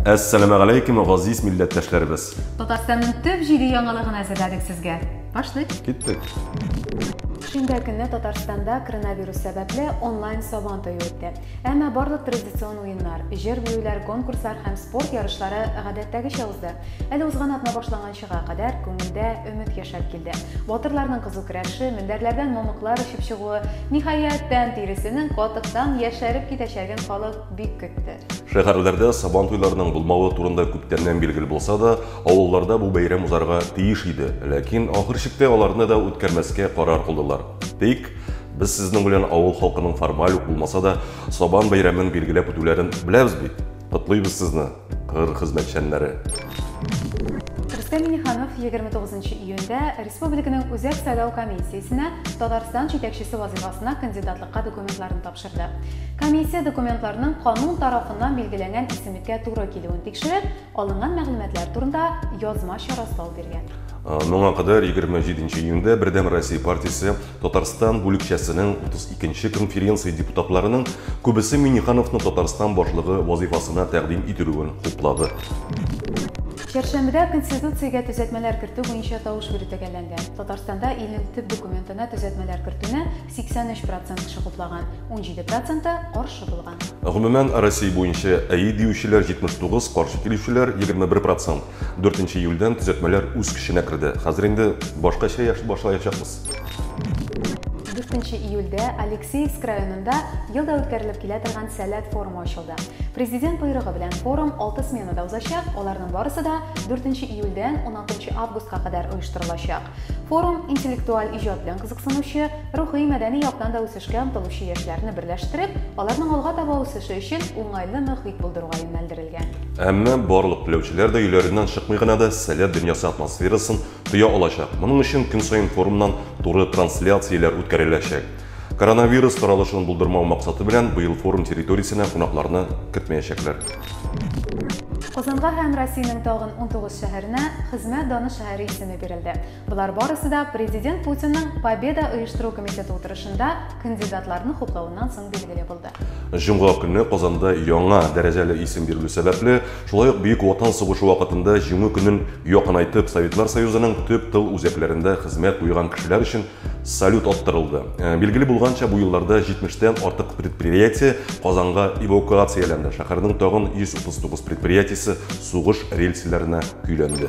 Әссәламә галәйкүм, газиз милләттәшләребез. Татарстанның төп җиде яңалыгын әзерләдек сезгә. Башлыйк. Киттек. Шимбә көнне Татарстанда коронавирус сәбәпле онлайн сабан тою үтте. Әмма барлык традицион уеннар, җыр-биюләр, конкурслар һәм спорт ярышлары гадәттәгечә узды. Әле узган атна башланган чыга кадәр күңелдә өмет яшәп килде. Батырларның кызу көрәше, мендәрләрдән мамыклар очып чыгуы, ниһаять, тән тиресенең катыктан яшәреп китәчәген халык бик көтте. Шәһәрләрдә Сабантуйларның булмавы турында күптәннән билгеле булса да, авылларда бу бәйрәм узарга тиеш иде, ләкин ахыр чиктә аларны да үткәрмәскә карар кылдылар. Тик, без сезнең белән авыл халкының формаль ук булмаса да, Сабан бәйрәмен билгеләп үтүләрен беләбез бит. Котлыйбыз сезне, кыр хезмәтчәннәре! Рөстәм Миниханов 29 июньдә республиканың Үзәк сайлау комиссиясенә Татарстан җитәкчесе вазыйфасына кандидатлыкка документларын тапшырды. Комиссия документларның канун тарафыннан билгеләнгән исемлеккә туры килүен тикшереп, алынган мәгълүматлар турында язмача раслау биргән. Моңа кадәр 27 июньдә Бердәм Россия партиясе Татарстан бүлекчәсенең 32 нче конференция депутатларының күбесе Миңнехановны Татарстан башлыгы вазыйфасына тәкъдим ителүен хуплады. Чәршәмбедә Конституциягә төзәтмәләр кертү буенча тавыш бирү төгәлләнгән. Татарстанда илнең төп документына төзәтмәләр кертүне 83 процент кеше хуплаган, 17 проценты каршы булган. Гомумән, Россия буенча әйе диючеләр 79, каршы килүчеләр 21 процент. 4 июльдән төзәтмәләр үз көченә керде. Хәзер инде башкача яши башлаячакбыз. 4 июльдә Алексеевск районында ел да үткәрелеп килә торган Сәләт форумы ачылды. Президент боерыгы белән форум 6 сменада узачак, аларның барысы да 4 июльдән 16 августка кадәр оештырылачак. Форум интеллектуаль иҗат белән кызыксынучы, рухи-мәдәни яктан да үсеш Эшкә омтылучы яшьләрне берләштереп, аларның алга таба үсеше өчен уңайлы мохит булдыруга юнәлдерелгән. Әмма барлык теләүчеләр дә өйләреннән чыкмый гына да Сәләт дөньясы атмосферасын тоя алачак. Моның өчен көн саен форумнан туры трансляцияләр үткәреләчәк. Коронавирус таралышын булдырмау максаты белән, быел форум территориясенә кунакларны кертмәячәкләр. Казанга һәм Россиянең тагын унтугыз шәһәренә Хезмәт даны шәһәре исеме бирелде. Болар барысы да президент Путинның Победа оештыру комитеты утырышында кандидатларны хуплавыннан соң билгеле булды. Җомга көне Казанда яңа дәрәҗәле исем бирелү сәбәпле, шулай ук Бөек Ватан сугышы вакытында Җиңү көнен якынайтып Советлар Союзының төп тыл үзәкләрендә хезмәт куйган кешеләр өчен салют аттырылды. Э, билгеле булганча, бу елларда 70-тән артык предприятие Казанга эвакуацияләнде. Шәһәрнең тагын 139 предприятиесе сугыш рельсләренә көйләнде.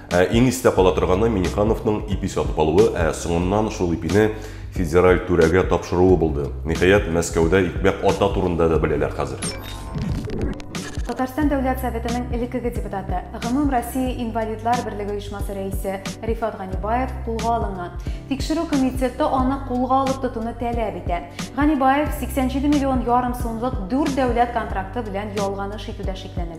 Ә иң истә кала торганы Минихановның ипи сатып алуы, ә соңыннан шул ипине федераль түрәгә тапшыруы булды. Ниһаять, Мәскәүдә икмәк ата турында да беләләр хәзер. Татарстан Дәүләт Советының элеккеге депутаты, Гомум Россия инвалидлар берлеге оешмасы рәисе Рифат Ганибаев кулга алынган. Тикшерү комитеты аны кулга алып тотуны таләп итә. Ганибаев 87 миллион ярым сумлык дүрт дәүләт контракты белән ялганыш итүдә шикләнелә.